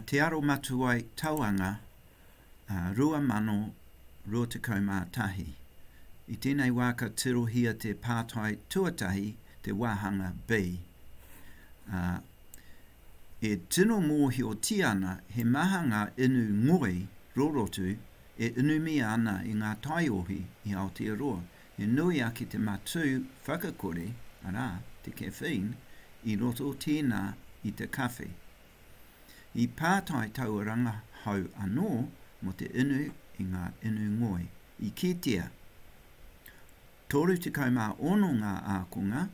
Te Aromatuai Tauanga 2021. I tēnei wā ka tirohia te pātai tuatahi te wāhanga B, ā, e tino mōhiotia ana he maha ngā inu ngoi rorotu e inumia ana i ngā taiohi i Aotearoa, He nui ake te matū whakakore, arā, te caffeine, i roto tēnā i te kawhe. I pātai taua rangahau anō mō te inu i ngā inu ngoi, i kitea, 36 ngā ākonga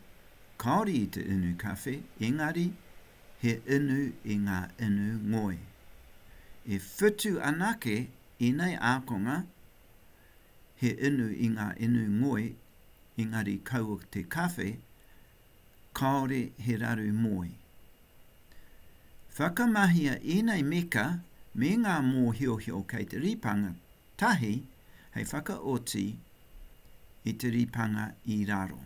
kāore i te inu kawhe, engari he inu i ngā inu ngoi. E whitu anake ēnei ākonga he inu i ngā inu ngoi engari kaua te kawhe kāore he raru moe. Whakamahia ēnei meka me ngā mōhiohio kei te ripanga tahi hei whakaoti i te ripanga i raro.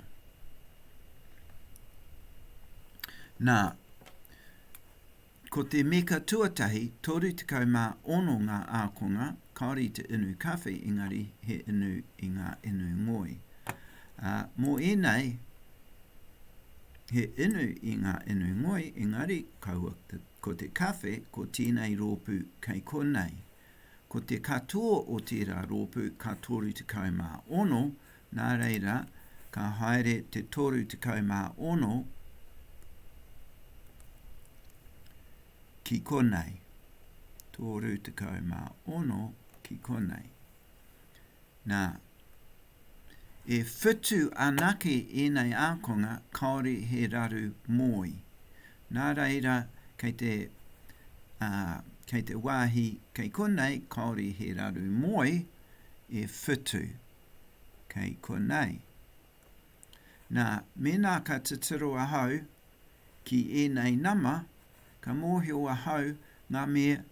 Nā, Ko te meka tuatahi, 36 ngā ākonga, kāore i te inu kawhe, engari he inu i ngā inu ngoi. Ā, mō ēnei, he inu i ngā inu ngoi, engari kaua ko te kawhe, ko tēnei rōpū kei konei. Ko te katoa o tērā rōpū ka 36, Nā reira, ka haere te 36 ki konei, 36 ki konei. Nā, e whitu anake ēnei ākonga kāore he raru mōi. Nā reira, kei te, ā, kei te wāhi kei konei kāore he raru mōi e whitu. kei konei. Nā, mēnā ka titiro ahau ki ēnei nama, ka mōhio ahau ngā mea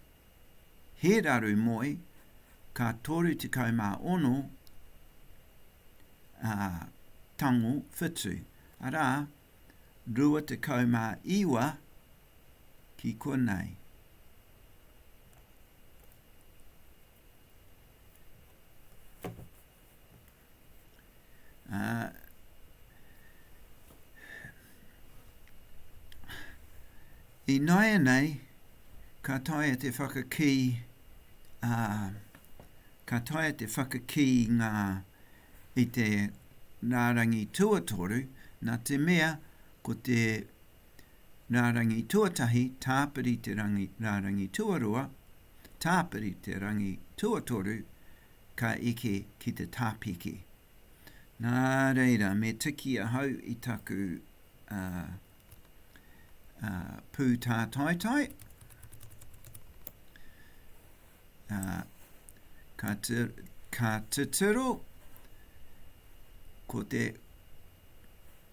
he raru moe ka 36 ā, tango whitu, arā, 29 ki konei. I nāianei, ka taea te whakakī, uh, ka taea te whakakī ngā i te nārangi tuatoru, nā te mea ko te rārangi tuatahi, tāpiri te rangi rārangi tuarua, tāpiri te rangi tuatoru, ka eke ki te tāpiki. Nā reira, me tiki ahau i taku uh, uh, pū tātaitai, uh, ka, te, ka te tiro, ko te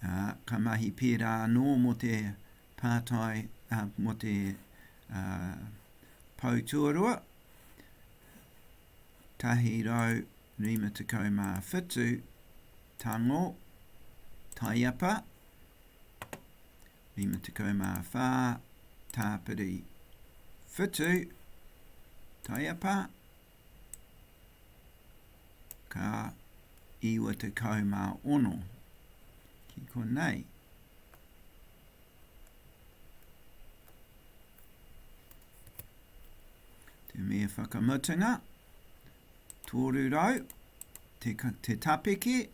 Ā, ka mahi pērā anō mō te pātai, ā, mō te ā, pou tuarua, 157 tango, taiapa, 54. Tāpiri whutu taiapa ka 96. Ki konei. Te me whakamutunga, tōru rau, te, te tapeke,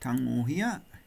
tangohia,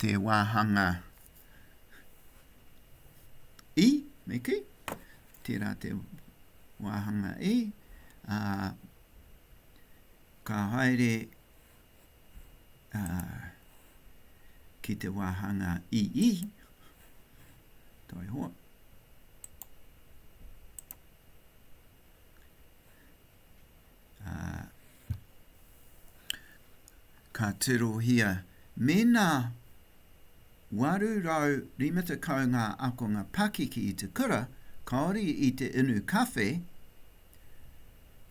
te wāhanga i, me kei, tērā te wāhanga i, a, ka haere a, ki te wāhanga i i, toi hoa. ā, ka tirohia mēnā 850 ngā akonga pakeke i te kura, kāore i te inu kawhe,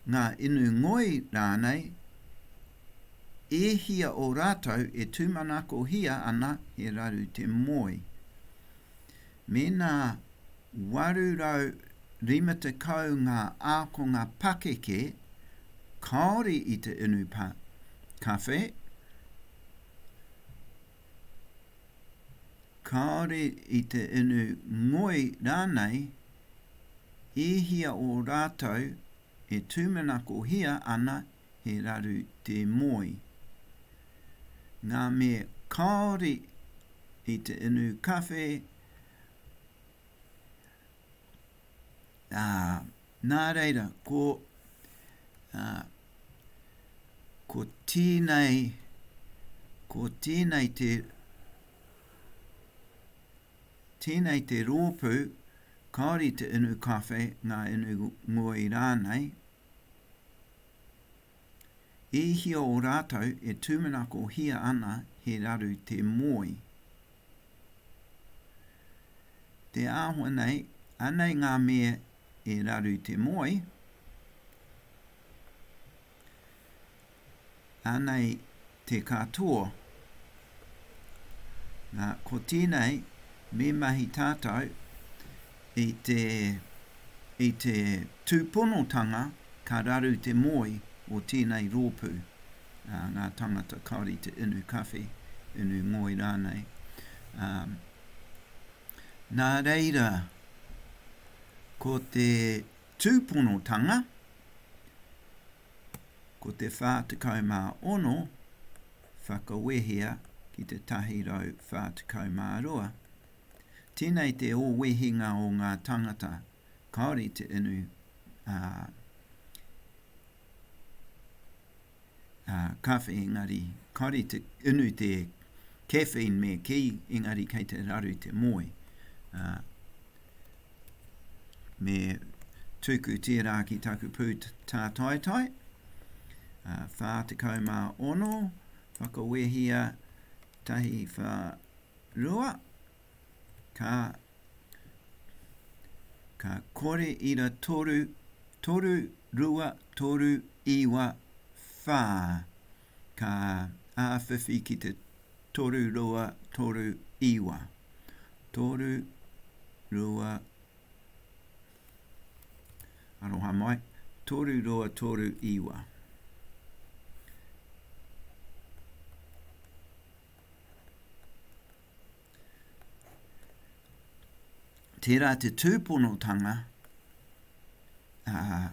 ngā inu ngoi rānei, e hia o rātou e tūmanakohia ana he raru te moe. Mēnā 850 ngā ākonga pakeke kāore i te inu pa, kawhe, kāore i te inu ngoi rānei, e hia o rātou e tūmanakohia ana he raru te moe. Ngā me kāore i te inu kawhe, ā, nā reira, ko, ā, ko tēnei, ko tēnei te, tēnei te rōpū, kāore i te inu kawhe, ngā inu ngoi rānei, E hia o rātou e tūmanakohia ana he raru te moe. Te āhua nei, anei ngā mea e raru te moe, Anei te katoa. Nā, ko tēnei, me mahi tātou i te, i te tūponotanga ka raru te moe o tēnei rōpū, ā, ngā tāngata kāore i te inu kawhe, inu ngoi rānei. Ā, nā reira, ko te tūponotanga, Ko te 46 whakawehea ki te 142. Tēnei te o wehinga o ngā tangata kāore i te inu, ā, ā, kawhe engari, kāore i te inu te caffeine me kī, engari kei te raru te moe, ā, me tuku tērā ki taku pū tātaitai. Uh, ah, 46, whakawehia tahi wha rua, ka, ka kore ira toru, toru, rua, toru, iwa, whā. Ka āwhiwhi ki te toru roa, toru iwa. Toru, rua, aroha mai, toru roa, toru iwa. Tērā te tūponotanga, ā,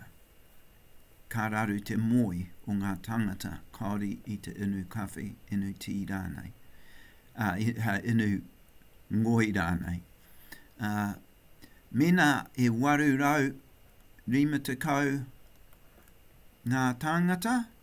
ka raru te moe o ngā tāngata Kāori i te inu kawhe, inu tī rānei, ā, inu ngoi rānei. Ā, mēnā e 850 ngā tāngata,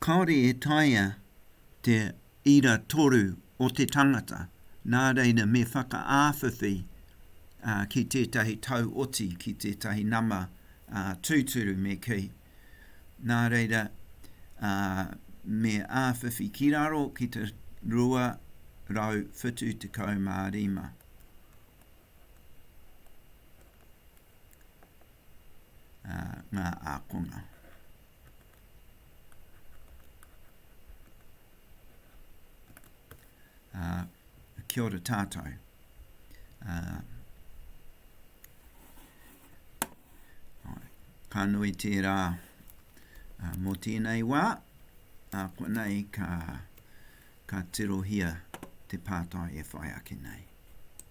Kāore e taea te ira toru o te tangata, nā reira me whakaawhiwhi ki tētahi tau oti, ki tētahi nama tūturu me kī. Nā reira, me awhiwhi ki raro ki te 275. Ngā ākonga. Uh, kia ora tātou. Uh, ka nui tērā uh, mō tēnei wā, a uh, kua nei ka, ka tirohia te pātai e whai ake nei.